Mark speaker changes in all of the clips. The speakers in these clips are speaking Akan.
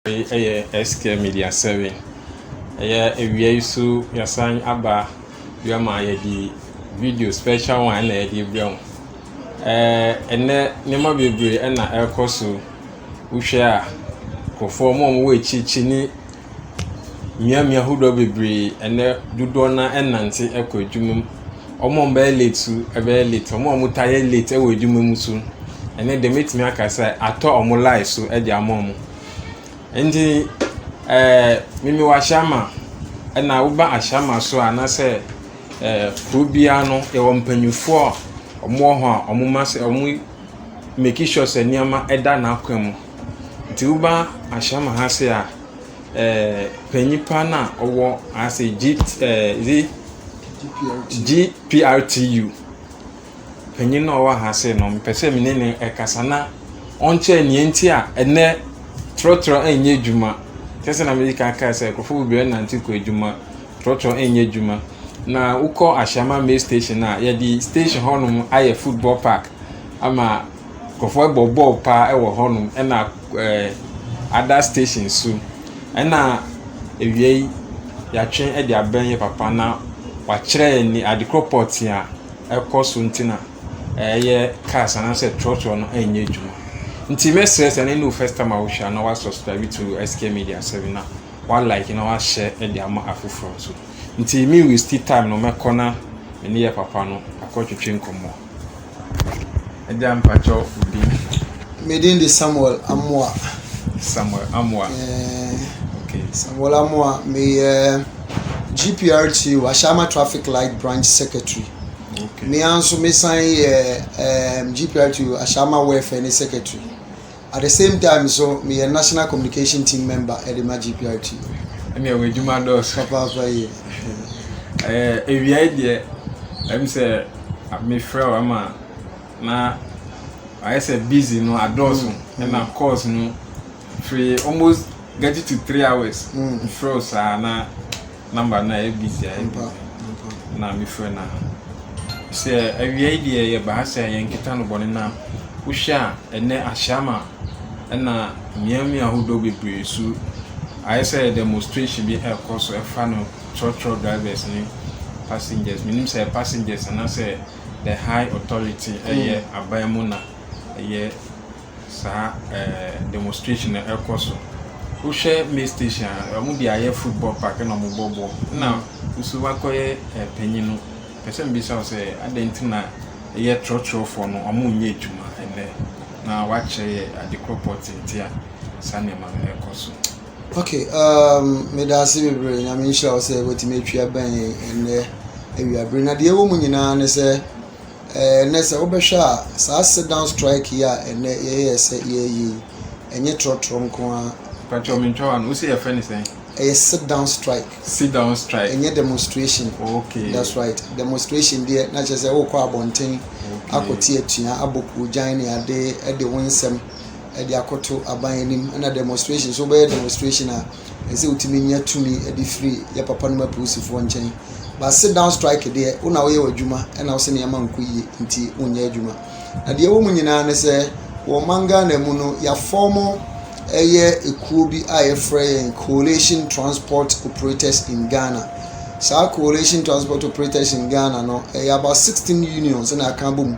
Speaker 1: Wei yɛ SK Media sɛre. Ɛyɛ awia yi so yɛasan aba bio ma yɛde video special one na yɛde rebrɛ wo. Ɛɛ ɛnɛ nneɛma bebree na ɛrekɔ so. Wohwɛ a, nkurɔfoɔ wɔn a wɔwɔ akyirikyiri ne . mmeammea ahodoɔ bebree ɛnnɛ dodoɔ no ara nante kɔ adwuma mu. Wɔn a wɔbɛyɛ late nso bɛyɛ late. Wɔn a wɔtaa yɛ late wɔ adwuma mu nso, ɛnnɛ deɛ mɛtumi aka sɛ atɔ wɔn life so de ama wɔn. Ɛnti ɛɛ me mewɔ ahyɛama ɛna woba ahyɛama so a anaasɛ ɛɛ kuro biara no yɛwɔ mpanimfoɔ a wɔwɔ hɔ a wɔma sɛ wɔmaki sure sɛ nneɛma da n'akwan mu. Ntsi woba ahyɛm ha se a, panyin pa no a ɔwɔ ase GPRTU, panyin no a ɔwɔ ha se no, mepɛ sɛ menye no kasa na ɔnkyerɛ nea ntsi a ndɛ trɔtrɔ nnyɛ edwuma. Kɛse na medzi kan kaa sɛ nkorɔfo beberee nantse kɔ edwuma, trɔtrɔ nnyɛ edwuma. Na wokɔ Ashaiman Maize Station a, yɛdze station hɔnom ayɛ football park ama. Nkurɔfoɔ bɔ bɔɔl pa ara wɔ hɔnom ɛna ɛɛ other station nso. Ɛna awia yi, wɔatwe de abɛn yɛ papa na wɔakyerɛ yɛn nea ade korɔ pɔtee a ɛkɔ so nti na ɛyɛ cars anaasɛ trɔtrɔ no renyɛ adwuma. Nti mɛsrɛ sɛ ɛnnɛ ne wo first time a wohwɛ a na woasubscribe to SK Media 7 na woalike na woahyɛ de ama afoforɔ nso. Nti me waste time no mɛkɔ na me ne yɛ papa no akɔtwetwe nkɔmmɔ. Agya mpakyɛw wo din? Me din de
Speaker 2: Samuel Amoah. Samuel Amoah. Ɛɛ.
Speaker 1: Okay. Samuel Amoah,
Speaker 2: meyɛ GPRT Ashama Traffic Light Branch Secretary. Okay. Me
Speaker 1: nso mesan
Speaker 2: yɛ ɛɛ GPRT Ashama Welfare ne Secretary. at the same time nso meyɛ national communication team member ɛde ma GPRT. ɛne ɛwɔ adwuma
Speaker 1: dɔɔso papaapa yie awiae deɛ ɛm sɛ mefrɛ wo ama na ayɛ sɛ busy no adɔɔso mm, ɛna mm. course no firi almost get to three hours mfrɛ mm. wo saa na number no ayɛ busy ayɛ busy na mefrɛ no a sɛ awia yi deɛ yɛba ha sɛ yɛnkeka no bɔne na wohwɛ a ɛnɛ ahyɛama ɛna mmeammea ahodoɔ bebree su ayɛ sɛ demonstration bi ɛrekɔ so ɛfa no trɔtrɔ drivers ne passengers menim sɛ passengers anaasɛ the high authority ɛyɛ aban mu na ɛyɛ saa ɛɛ demonstration no ɛkɔ so wohwɛ may station a wɔn de ayɛ football park ɛna wɔn bɔ bɔɔl ɛna nso wakɔyɛ ɛpanyin no pɛsɛ mi bisa sɛ adan ti na ɛyɛ trɔtrɔfoɔ no wɔn nyɛ adwuma ɛnɛ na wakyerɛ yɛ ade korɔ pɔ tenten a saa nneɛma no ɛkɔ so. ok
Speaker 2: um, meda ase bebree nyame nhyira wo sɛ watumi atwi abɛn ɛnnɛ awiabere na deɛ ɛwɔ mu nyinaa ne sɛ Ɛɛ, nnɛ sɛ wobɛhwɛ a, saa sit down strike yi a ɛnnɛ yɛyɛɛ sɛ yɛyɛ yi, ɛnyɛ trɔtrɔ nko ara. Patrɔ mi ntwa wa no,
Speaker 1: wosɛ yɛfrɛ ne sɛn? Ɛyɛ sit down
Speaker 2: strike. Sit down strike. Ɛnyɛ
Speaker 1: demonstration.
Speaker 2: Okay. That's right. Demonstration deɛ na kyerɛ sɛ wokɔ abɔnten okay. akɔte atua abɔ kuogyan ne ade de wo nsɛm de akɔto aban anim ɛna demonstration so wobɛyɛ demonstration a ɛsɛ sɛ wotumi nya tumi de firi yɛ papa nom apolisifoɔ nkyɛn ba sit down strike deɛ wo na woyɛ w'adwuma ɛna wo sɛ nneɛma nkɔ yie nti wonyɛ adwuma na deɛ ɛwɔ mu nyinaa ne sɛ wɔ ɔman ghana mu no yɛafɔm ɛyɛ ekuo bi a yɛfrɛ yɛn coalition transport operators in ghana saa coalition transport operators in ghana no ɛyɛ about sixteen unions na aka abom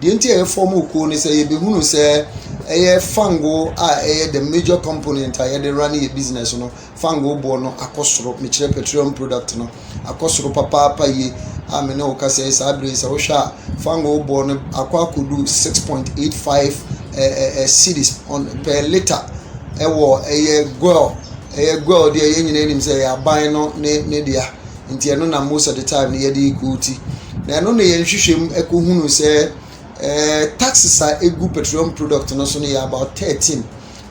Speaker 2: deɛ nti a yɛ fɔm kuo no sɛ yɛ bɛ hunu sɛ ɛyɛ fango a ɛyɛ the major component a yɛde run yɛ business no fango boɔ no akɔ soro mekyerɛ petroleum product no akɔ soro papaapa yie a me ne wo ka sɛ saa bere sɛ wohwɛ a fango boɔ no akɔ akɔdu six point eight five ɛɛ eh, eh, cities on per litre ɛwɔ ɛyɛ goil ɛyɛ goil deɛ yɛn nyinaa nim sɛ ɛyɛ aban no ne ne deɛ. nti ɛno na most of the time no yɛde rekɔɔti. Na ɛno na yɛn nhwehwɛmu ɛkɔhunu sɛ ɛɛ taxes a ɛgu petroleum product no so no yɛ about thirteen.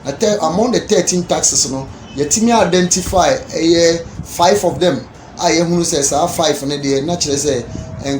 Speaker 2: Na tɛ among the thirteen taxes no yɛtumi identify ɛyɛ five of them a yɛhunu sɛ saa five no deɛ na kyerɛ sɛ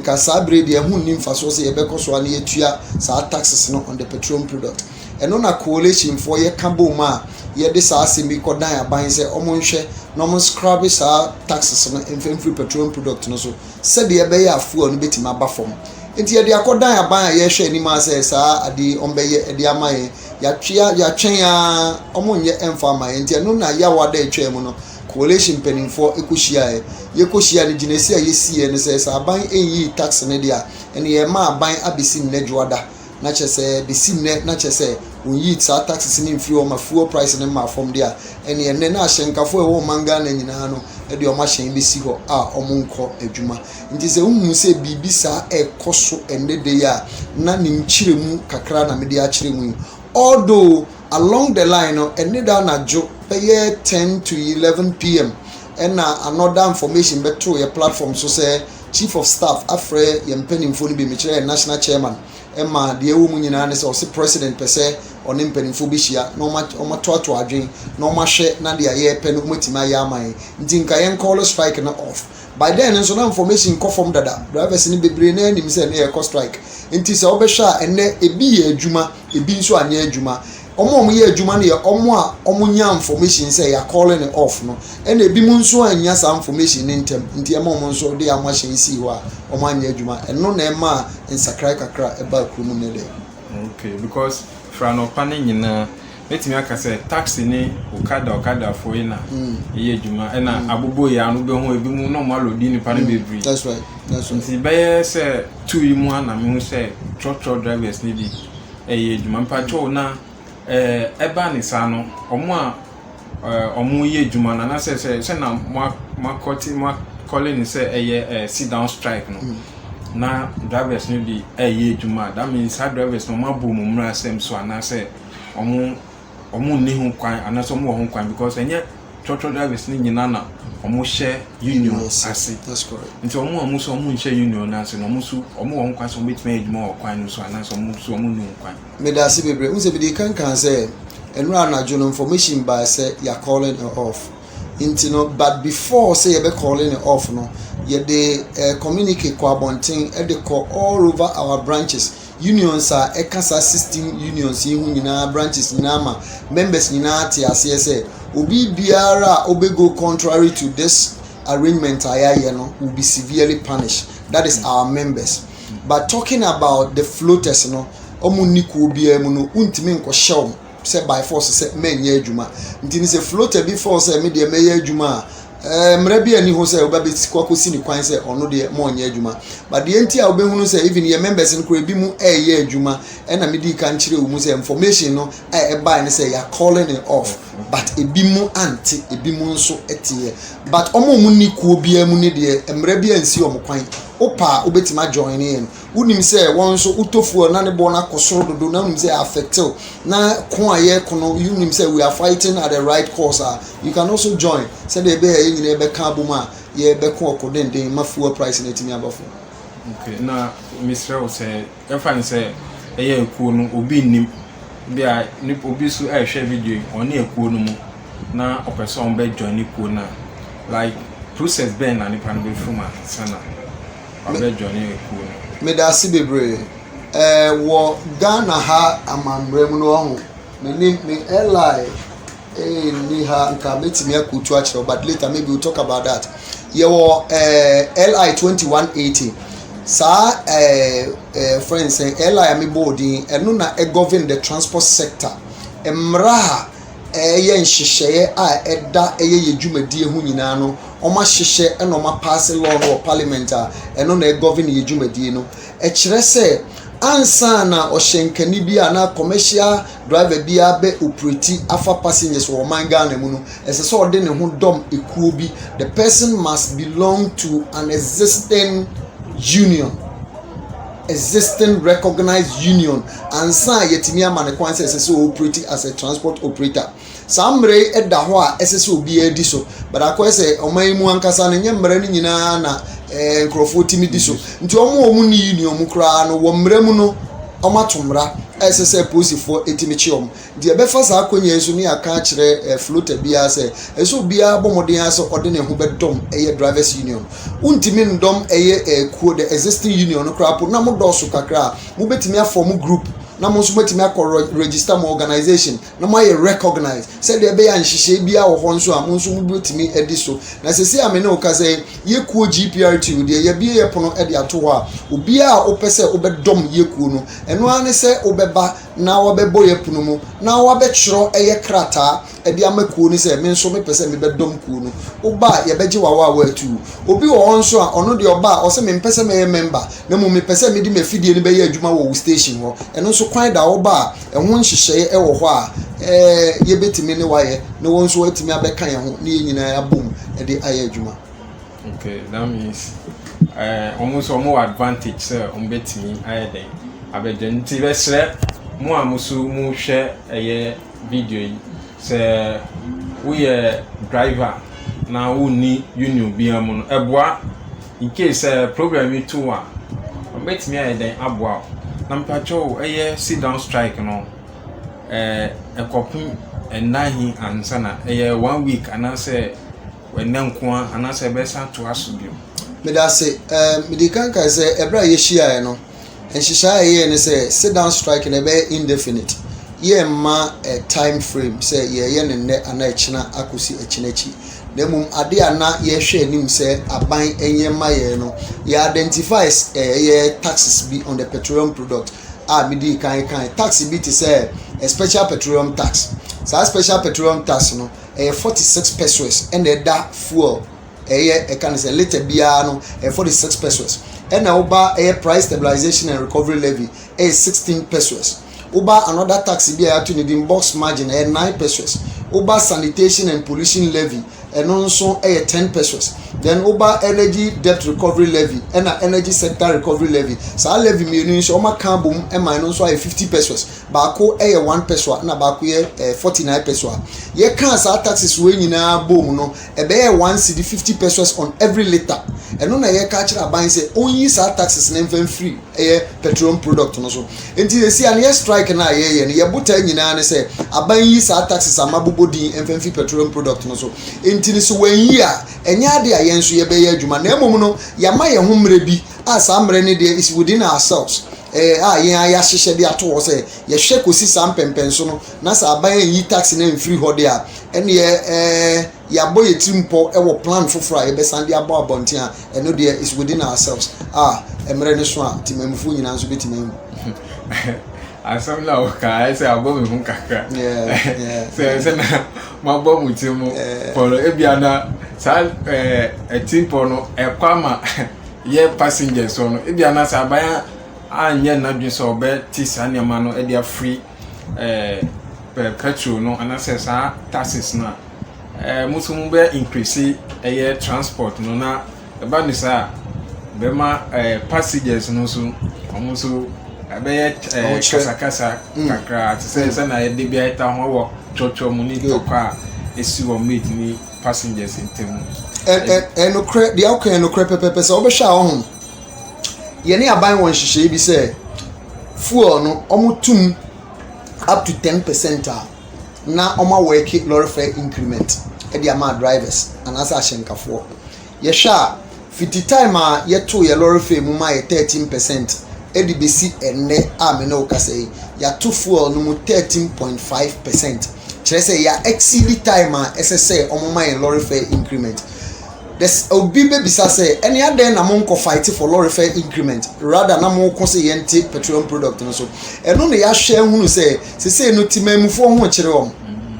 Speaker 2: nka saa bere deɛ ɛho nni mfasoɔ sɛ yɛbɛkɔ so a na yɛtua saa taxes no on the petroleum product. Ɛno na coalitionfoɔ yɛka bom a yɛde saa asɛm yi kɔdan aban sɛ wɔnhwɛ na wɔnscrabbe saa taxes no mfa mfiri petroleum product no so sɛdeɛ ɛbɛyɛ a fuel no bɛtumi aba fam. Nti yɛde akɔdan aban a yɛhwɛ anim a sɛ saa adeɛ yi wɔbɛyɛ de ama yɛn. Yɛatwea yɛatwɛn ara wɔnyɛ ɛmfa ama yɛn. Nti ɛno na yawa da atwaa mu no coalition mpanimfoɔ kɔhyiaeɛ. Yɛkɔhyia no gyinasie a yɛsiiɛ no sɛ sɛ aban nyi tax no deɛ a ɛne yɛma aban abɛsi nnɛ dwoada. na kyerɛ sɛ besi nnɛ na kyerɛ sɛ wɔnyii saa taxes no mfiri hɔ ma fuel price no maa fam de a ɛneɛ nnɛ na ahyɛnkafo a ɛwɔ ɔman ghana nyinaa no de wɔn ahyɛn bɛsi hɔ a wɔnkɔ adwuma nti sɛ wohu sɛ biribi saa ɛkɔ so ɛnnɛ da yi a na ne nkyerɛ mu kakra na mede akyerɛ mu yi although along the line no ɛne da anadwo bɛyɛ ten to eleven pm ɛna another information bɛtoo yɛ platform so sɛ chief of staff afrɛ yɛn mpanimfoɔ no bi, mekyerɛ yɛn national chairman, ɛma deɛ ɛwɔ mu nyinaa ne sɛ ɔse president pɛ sɛ ɔne mpanimfoɔ bɛhyia na wɔatoatoa adwen na wɔahwɛ na deɛ yɛpɛ no wɔatumi ayɛ ama yɛn, nti nka yɛn call strike no off. By then nso na information kɔ fam dada, drivers no bebree no ara nim sɛ na yɛrekɔ strike, nti sɛ wobɛhwɛ a ɛnnɛ ebi yɛ adwuma, ebi nso anyɛ adwuma. wɔn a wɔyɛ adwuma no yɛ wɔn a wɔnya information sɛ yɛ calling no off no ɛna ebinom nso annya saa information no ntɛm nti ɛma wɔn nso de wɔn ahyɛn sii hɔ a wɔn anyɛ adwuma ɛno na ɛma nsakrae kakra ɛbaa kurom nnɛ dɛ. okay
Speaker 1: because fira anɔpa no nyinaa mɛtumi aka sɛ taxi ne okada okadafoɔ yi na mm. ɛyɛ adwuma ɛna mm. abobo yɛ ano bɛhu ebi mu na ɔmo alɔdi nipa no mm. bebree that's right that's right
Speaker 2: nti bɛyɛ
Speaker 1: sɛ two yi mu a na mehu sɛ truck truck drivers ne bi ɛyɛ adwuma mpakyɛw na ɛɛ ɛba ne saa no wɔn a ɛɛ wɔyɛ adwuma no anaasɛ sɛ sɛ na mo a mo akɔte mo akɔle ne sɛ ɛyɛ ɛɛ sit down strike no na drivers no de ɛyɛ adwuma a that means saa drivers no wɔn abɔ wɔn mmra asɛm so anaasɛ wɔn. wɔn nni ho kwan anaasɛ wɔn wɔ ho kwan because ɛnyɛ trɔtrɔ drivers ne nyinaa na wɔn hyɛ union ase nti wɔn
Speaker 2: a wɔn nso wɔn
Speaker 1: nhyɛ union no ase na wɔn nso wɔn wɔ ho kwan sɛ wɔn betumi ayɛ adwuma wɔ kwan no so anaasɛ wɔn nso wɔn nni ho kwan. medase bebree n sɛ
Speaker 2: mede kankan sɛ ɛnura anadwo no information baa sɛ yɛ a calling it off nti no but before sɛ yɛbɛ calling it off no yɛde uh, communicate kɔ abɔnten de kɔ all over our branches Unions a ɛka saa sixteen unions yi ho nyinaa branches nyinaa ma members nyinaa te aseɛ sɛ obi biara a ɔbɛ go contrary to this arrangement a yɛayɛ no will be severely punished that is our members but talking about the floaters no wɔn nni kuo biara mu no wontumi nkɔhyɛ wɔn. sɛ by force sɛ menyɛ adwuma nti no sɛ floater bi fɔɔ sɛ me deɛ mɛyɛ adwuma a ɛɛ mmerɛ bi ani hɔ sɛ wobɛbɛsi kɔ akɔsi ne kwan sɛ ɔno deɛ mɔnyɛ adwuma but deɛ nti a wobɛhunu sɛ even yɛ members no koraa ebi mu ɛɛyɛ adwuma ɛna medii kan kyerɛ wo mu sɛ information no a ɛbae no sɛ yɛ calling it off but ebi mu ante ebi mu nso ɛteɛ but ɔmo ɔmo ni kuo biara mu ne deɛ mmerɛ bi ansi ɔmo kwan wopaa wobɛtumi ajoin yɛn wonim sɛ wɔn nso wotɔ fuel na ne boɔ no akɔ soro dodo na wonim sɛ affected na ko a yɛko no you nim sɛ we are fighting at the right cause a you can also join sɛdeɛ ɛbɛyɛ yɛn nyinaa bɛka abom a yɛbɛko ɔko denden ma fuel price no atumi aba fam. Okay, na
Speaker 1: mesrɛ wo sɛ ɛfa ne sɛ ɛyɛ akuo no obi nnim bi a obi nso ɛrehwɛ video yi ɔne akuo no mu na ɔpɛ sɛ ɔbɛ join ne kuo no a like process bɛn na nipa no bɛfiri mu ansa na wabɛjoine ekuo no. Medase bebree.
Speaker 2: Ɛɛ wɔ Ghana ha amammerɛ mu no wahu, menim, me LI nni ha, nka mɛtumi akɔtu akyerɛ wo but later maybe we'll talk about that. Yɛwɔ ɛɛ LI twenty one eighty. Saa ɛɛ ɛɛ friends sɛ LI a mebɔɔ din ɛno na ɛgovern the transport sector. Mmara a ɛyɛ nhyehyɛeɛ a ɛda ɛyɛ yɛn dwumadie ho nyinaa no, wɔahyehyɛ na wɔapaase law no wɔ parliament a ɛno na ɛgovern yɛn dwumadie no. Ɛkyerɛ sɛ ansa na ɔhyɛnkani bi anaa commercial driver bi abɛ operate afa passengers wɔ ɔman Ghana mu no, ɛsɛ sɛ ɔde ne ho dɔm ekuo bi. The person must belong to an existing union. existing recognized union ansa a yɛatumi ama no kwan sɛ ɛsɛ sɛ ɔoperate as a transport operator saa mmara yi da hɔ a ɛsɛ sɛ obiara di so but akɔyɛ sɛ ɔman yi mu ankasa no nyɛ mmara no nyinaa na ɛɛ eh, nkurɔfoɔ tumi di so nti wɔn a wɔn ni union mu koraa no wɔ mmara mu no wɔn ato mmara a ɛsɛ sɛ polisifoɔ tumi kye wɔn Deɛ ɛbɛfa saa akwannya yi so ne yɛaka akyerɛ eh, floater biara sɛ ɛsɛ sɛ obiara bɔ mmɔden ara sɛ ɔde ne ho bɛdɔm ɛyɛ drivers union. Wontumi ndɔm ɛyɛ eh, kuo, the existing union no koraa mpo, na mo dɔɔso kakra a, mobɛtumi afɔm group na mo nso moatumi akɔ rɔ register mo organisation na moayɛ recognized sɛdeɛ ɛbɛyɛ a nhyehyɛe biara wɔ hɔ nso a, mo nso mobɛtumi adi so. Na seesei a me ne wo kasa yi, yɛ kuo GPRTU deɛ yɛabue yɛ pono de ato hɔ a, obiara a wopɛ sɛ wobɛdɔm yɛ kuo no, ɛno ara ne sɛ wobɛba na wɔbɛbɔ yɛ pono mu na wɔabɛtwerɛ ɛyɛ krataa ɛde ama kuo no sɛ me nso mepɛ sɛ mebɛdɔm kuo no woba a yɛbɛgye wo awaawa atuu obi wɔ hɔ nso a ɔno deɛ ɔba a ɔsɛ mempɛ sɛ mɛyɛ mɛmba na mmom mepɛ sɛ mede m'afidie no bɛyɛ adwuma wɔ wo station hɔ ɛno nso kwan da woba a ɛho nhyehyɛeɛ ɛwɔ hɔ a ɛɛ yɛbɛtumi ne wayɛ na wɔn nso atumi abɛka yɛn ho ne yɛn nyinaa abom ɛde ayɛ adwuma. Nti
Speaker 1: that means eh, wɔn nso wɔn wɔ advantage sɛ wɔn bɛtumi ayɛ dɛn abɛgya nti bɛsrɛ mo a mo so mo hwɛ ɛyɛ video yi sɛ woyɛ driver na wonni union biara mu no ɛboa in case sɛ eh, problem yi to a wɔn bɛtumi ayɛ dɛn aboa o na mpakyɛw ɛyɛ sit down strike no ɛɛ eh, ɛkɔpem ɛnna he ansa na ɛyɛ one week anaasɛ. ɛnnɛ nko ara anaasɛ ɛbɛsan atoa so bio? Meda ase.
Speaker 2: Ɛɛ, mede kan kae sɛ ɛberɛ a yɛhyiaeɛ no, nhyehyɛeɛ a yɛyɛɛ ne sɛ sit down strike no ɛbɛyɛ indefinite. Yɛmma ɛ time frame sɛ yɛyɛ no nnɛ anaa ɛkyena akɔsi ɛkyena akyi. Na mmom adeɛ a na yɛhwɛ anim sɛ aban nyɛ mma yɛn no, yɛ identify ɛyɛ taxes bi on the petroleum product a medii kan kae. Tax bi te sɛ special petroleum tax. Saa special petroleum tax no, ɛyɛ forty six pesewas ɛna ɛda fuel ɛyɛ ɛka ne sɛ lita biara no ɛyɛ forty six pesewas ɛna woba ɛyɛ price stabilisation and recovery levy ɛyɛ sixteen pesewas woba another tax bi a yɛato ne din box margin ɛyɛ nine pesewas woba sanitation and pollution levy ɛno nso ɛyɛ ten pesewas then woba energy debt recovery levy ɛna energy sector recovery levy saa levy mmienu yi nso wɔaka abom ɛma ɛno nso ayɛ fifty pesewas baako yɛ one pessoa ɛna baako yɛ ɛɛ forty nine pessoa yɛkaa saa taxes wei nyinaa boom no ɛbɛyɛ one cedi fifty pessoas on every litre ɛno na yɛka akyerɛ aban sɛ ɔnyi saa taxes no mfa mfiri ɛyɛ petroleum product no so nti yɛsi a no yɛ strike no a yɛyɛ no yɛbotaa nyinaa ne sɛ aban yi saa taxes ama bobɔ din mfa mfiri petroleum product no so nti no sɛ wɔanyi a ɛnyɛ ade a yɛn nso yɛbɛyɛ adwuma na mmom no yɛama yɛn ho mmerɛ bi A Saa mmerɛ no deɛ is within ourselves, ɛyɛ a yɛn ara yɛahyehyɛ de ato hɔ sɛ yɛhwɛ kɔsi saa mpɛnpɛnso no na sɛ aban anyi tax no amfiri hɔ deɛ a, ɛnneɛ ɛɛ yɛabɔ yɛn tirim pɔ wɔ plan foforɔ a yɛbɛsan de abɔ abɔnten a, ɛno deɛ is within ourselves. A Mmerɛ no so a temanmufoɔ nyinaa nso bɛtumi ahu.
Speaker 1: Asɛm no a wokaa ayɛ sɛ abɔ me ho kakra. Sɛ sɛ na moabɔ mo tirim pɔ no, ebia na saa ɛtim pɔ no ɛkɔ ama yɛ passengers hɔ no, ebia na sɛ aban anyɛ n'adwene sɛ ɔbɛte saa nneɛma no de afiri ɛɛ petrol no anaasɛ saa taxes no a ɛɛ mo nso mo bɛ increase ɛyɛ transport no na ɛba ne saa bɛma ɛɛ passengers no nso wɔn nso ɛbɛyɛ ɛɛ kasakasa mm. kakra te sɛ sɛ na yɛde bi ayɛ ta ho wɔ twɔtwɔ mu ne tɔkwa a esi wɔn mɛtumi. passengers ntam. ɛnokorɛ
Speaker 2: deɛ woka yɛ nokorɛ pɛpɛpɛ sɛ wobɛhwɛ a ɔho yɛne aban wɔ nhyehyɛeɛ bi sɛ fuel no ɔmotum up to ten percent a na ɔma wɔɛke lɔre fare increment ɛde ama drivers anaasɛ ahyɛnkafoɔ Yɛhwɛ a, fi the time a yɛtoo yɛn lɔre fare mu maa yɛ thirteen percent de besi ɛnnɛ a me ne wo kasa yi, yɛato fuel no mu thirteen point five percent. Kyerɛ sɛ, yɛa exceed time a ɛsɛ sɛ wɔma yɛn lɔre fare increment. There's obi bebisa sɛ, ɛnne adɛn na monkɔ fight for lɔre fare increment rather na moko sɛ yɛnte petroleum product no so? Ɛno na yɛahwɛ ahunu sɛ, sesei no Temanmufoɔ ho rekyere wɔn.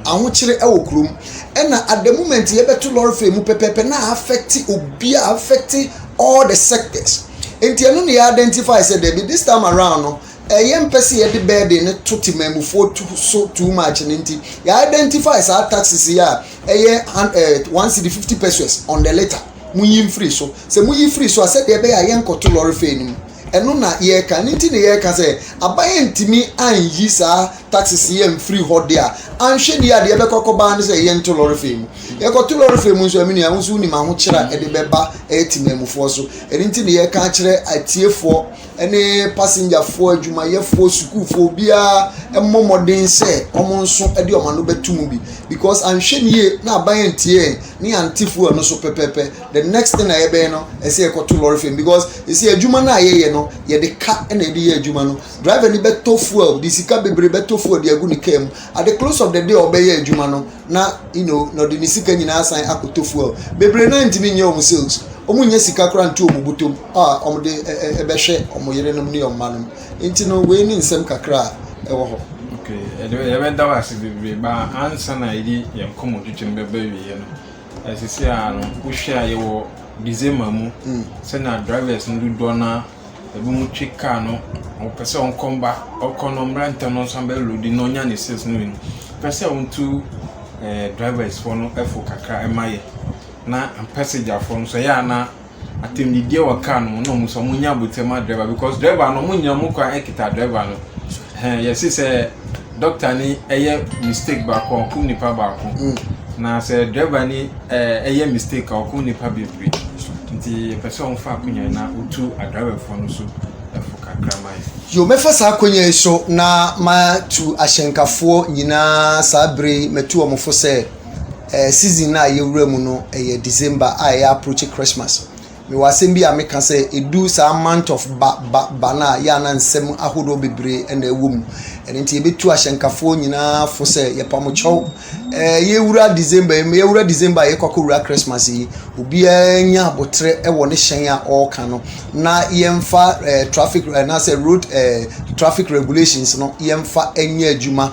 Speaker 2: Ahokyere wɔ kurom. ɛna at the moment yɛbɛto lɔre fɛ mu pɛpɛpɛ na affect obi a affect all the sectors nti ɛno na yɛ identify sɛ dɛbi this time around no ɛyɛ mpɛ sɛ yɛde bɛɛden no to temanmufoɔ to so too much no nti yɛ identify saa taxes yi a ɛyɛ ɛɛ one city fifty pesos on the litre mo yi mfiri so sɛ mo yi firi so a sɛdeɛ ɛbɛyɛ a yɛnkɔto lɔre fɛ no mu Ɛno na yɛreka. Ɛno nti na yɛreka sɛ aban antumi anyi saa taxes yi amfiri hɔ de a, anhwɛ ni a deɛ ɛbɛkɔ akɔba ne sɛ yɛnto lɔre fei mu. Yɛkɔto lɔre fei mu nso a, me nua, wo nso wonim ahokyerɛ a ɛde bɛba ɛyɛ temanmufoɔ so. Ɛno nti na yɛreka akyerɛ atiefoɔ ne pasengyafoɔ, adwumayɛfoɔ, sukuufoɔ, obiara mmɔ mmɔden sɛ wɔn nso de wɔn ano bɛto mu bi because anhwɛ ni yie na aban antie yɛn ne yɛante fuel no so pɛpɛɛpɛ. The next thing a yɛbɛyɛ no ɛsɛ yɛkɔto lɔre fam because ɛsɛ adwuma no a yɛyɛ no yɛde ka na yɛde yɛ adwuma no driver ni bɛtɔ fuel de sika bebree bɛtɔ fuel de agu ne kaa mu at the close of the day ɔbɛyɛ adwuma no na you know na ɔde ne sika nyinaa asan akɔtɔ fuel bebree no ntumi nyɛ wɔn sales wɔn nyɛ sika koraa nto wɔn bɔtɔ mu a wɔde ɛbɛhwɛ wɔn yerenom ne wɔn mma nom nti no wei ne nsɛm kakra a ɛwɔ hɔ. okay ɛde
Speaker 1: yɛbɛda wo ase bebree ba ansa na yɛde yɛn nkɔmmɔtwitwam bɛbɛ wieɛ no Na sisi a no wohwɛ a yɛwɔ December mu sɛnea drivers no dodoɔ no ara ebinom twe car no wɔpɛ sɛ wɔkɔ mma wɔkɔ no mmra ntɛm na wɔnsan bɛ load na wɔnya ne sales no wieeɛ no yɛpɛ sɛ wotu ɛɛ drivers foɔ no fo kakra ma yɛn na passager foɔ no nso ɛyɛ a na. atɛmdidiɛ wɔ car no mu na ɔmo sɛ ɔmo nya abotire ma driver because driver no ɔmo nyina ɔmo kwan ɛkita driver no hɛn yɛsi sɛ doctor ni ɛyɛ mistake baako a ɔkum nipa baako mm. na sɛ driver ni ɛyɛ eh, mistake a ɔkum nipa bebree nti yɛpɛ sɛ ɔmo fa akonya na otu adriverfoɔ no so ɛfo kakra ma yɛ. yo mɛfa saa
Speaker 2: akonya yi so na matu ahyɛnkafoɔ nyinaa saa bere mɛtu wɔn fo sɛ. Ɛɛ season no a yɛwura mu no ɛyɛ December a ɛyɛ approach Christmas. Mewɔ asɛm bi a meka sɛ ɛdu saa month of ba ba ba no a yɛ a na nsɛm ahodoɔ bebree na ɛwɔ mu. Ɛno nti yɛbɛtu ahyɛnkafoɔ nyinaa fo sɛ yɛpa mo kyɛw. Ɛɛ yɛwura December yi yɛwura December a yɛkɔ akɔwura Christmas yi obiara nya aboterɛ wɔ ne hyɛn a ɔreka no na yɛmfa ɛɛ traffic anaasɛ road ɛɛ traffic regulations no yɛmfa nyɛ adwuma.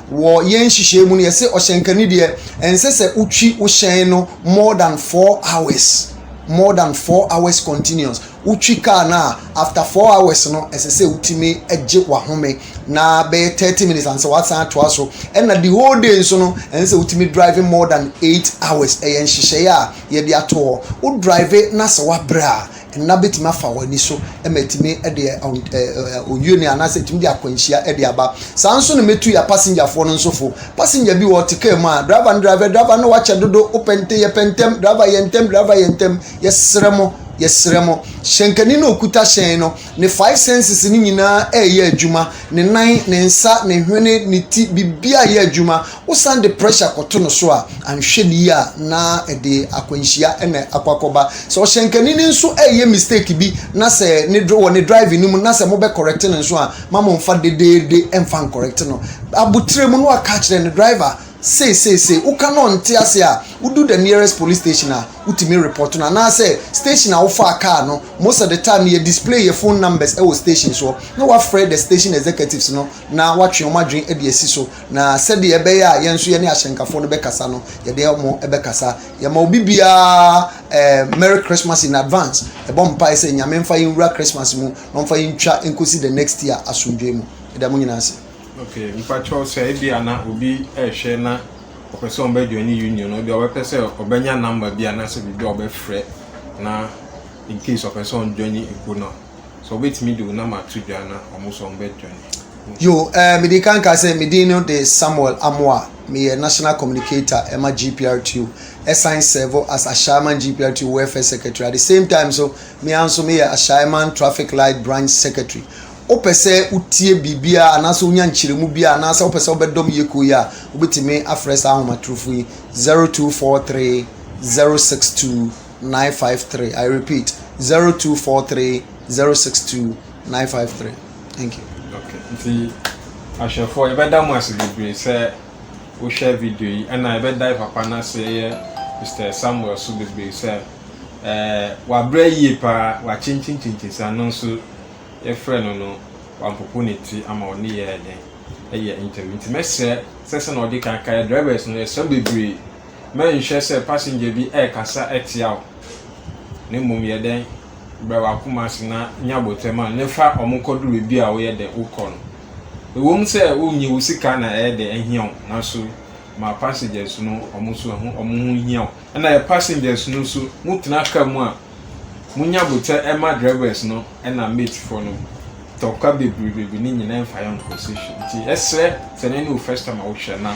Speaker 2: Wɔ yɛn nhyehyɛɛ mu no yɛse ɔhyɛnkani deɛ ɛnsɛ sɛ wotwi wo hyɛn no more than four hours more than four hours continuous wotwi car no a after four hours no ɛsɛ sɛ wotumi gye wahome na bɛyɛ thirty minutes ansa wasan atoa so ɛna the whole day nso no ɛnsɛ sɛ wotumi drive more than eight hours ɛyɛ nhyehyɛɛ a yɛde ato hɔ wo drive na sɛ wabrɛ a nna bɛtumi afa wɔn ani so ma ɛtumi de ɔyuo anaasɛ ɛtumi de akwanhyia de aba saa nso na mɛtu yɛ pasengyafoɔ no nso fo pasengya bi wɔ te kaa mu a driver no driver driver no wakyɛ dodo wopɛ nte yɛpɛ ntɛm driver yɛ ntɛm driver yɛ ntɛm yɛserɛ mo yɛserɛ mo hyɛnkani na ɔkuta hyɛn no ne five senses no nyinaa ɛyɛ adwuma ne nan ne nsa ne hwene ne ti biribiara yɛ adwuma Wosan de pressure kɔto no so a, anhwɛ no yie a na ɛde akwanhyia na akɔ akɔba. Sɛ ɔhyɛnkani no nso reyɛ mistake bi na sɛ ne dr wɔ ne driving no mu na sɛ mobɛ correct no nso a, ma momfa dedeede mfa nkɔrɛkte no. Abotire mu na waka akyerɛ no, driver, sei sei sei, woka na ɔnte ase a, wodu the nearest police station a, wotumi report no. Anaasɛ station a wofaa kaa no, most of the time no yɛ display yɛ phone numbers wɔ stations hɔ na woafrɛ the station executives no na woatwe wɔn adwene de asi so. Na sɛdeɛ ɛbɛyɛ a yɛn nso yɛne ahyɛnkafoɔ no bɛkasa no, yɛde wɔn bɛkasa. Yɛma obi biara ɛɛ eh, Merry Christmas in advance. Yɛbɔ mpae sɛ Nyame mfa yɛn nwura Christmas mu na ɔmfa yɛn ntwa nkɔsi the next year asomdwoe mu. Yɛda mo nyinaa ase. Okay, mpakyɛw
Speaker 1: sɛ ebi a na obi ɛrehwɛ na ɔpɛ sɛ ɔbɛ join ne union no deɛ ɔbɛpɛ sɛ ɔbɛnya number bi anaasɛ biribi a ɔbɛfrɛ na in case ɔpɛ sɛ ɔjoin ne ekuo no a. Sɛ wɔbɛtumi de wo nam ato dwa na wɔn nso wɔbɛdwane. Yo, eh,
Speaker 2: mede kan ka sɛ me din no de Samuel Amoah, meyɛ National Communicator ɛma GPRTO, ɛsan sɛvo as Ashaiman GPRTO Welfare Secretary at the same time nso me ara nso meyɛ Ashaiman Traffic Light Branch Secretary. Wopɛ sɛ wotie biribiara anaasɛ wonya nkyerɛmu biara anaasɛ wopɛ sɛ wobɛdɔm yɛ kuo yi a, wobɛtumi afrɛ saa ahomatorofo yi 0243 062 nine five three i repeat zero two four three zero six two nine five three thank
Speaker 1: you. okay nti ahwɛfoɔ yɛbɛda mo ase bebree sɛ wohwɛ video yi ɛna yɛbɛda papa no ase yɛ mr samuel so bebree sɛ ɛɛ wabrɛ yie paa wakyenkyenkyenkyen sɛ ano nso yɛfrɛ no no wampopo ne ti ama ɔne yɛ ɛdɛn ɛyɛ interview nti mɛsrɛ sɛ sɛ na ɔde kan ka yɛ drivers no yɛsrɛ bebree. Mɛnhwɛ sɛ passenger bi rekasa tia wo, na mmom yɛ dɛn brɛ w'akoma ase na nya abotɛ ma no, na fa wɔn kɔduru baabi a woyɛ dɛ wokɔ no. Ɛwom sɛ wonnye wo sika na ɛyɛ dɛ ahia wo, nanso ma passengers no wɔn nso ɛho wɔn ho nhia wo. Ɛna yɛ passengers no nso, motena car mu a, monya abotɛ ma drivers no ɛna mate foɔ no. Tɔkwa bebree bebree ne nyinaa mfa yɛ nkɔ station. Nti ɛsrɛ sɛ na ɛne wo first time a wohwɛ na.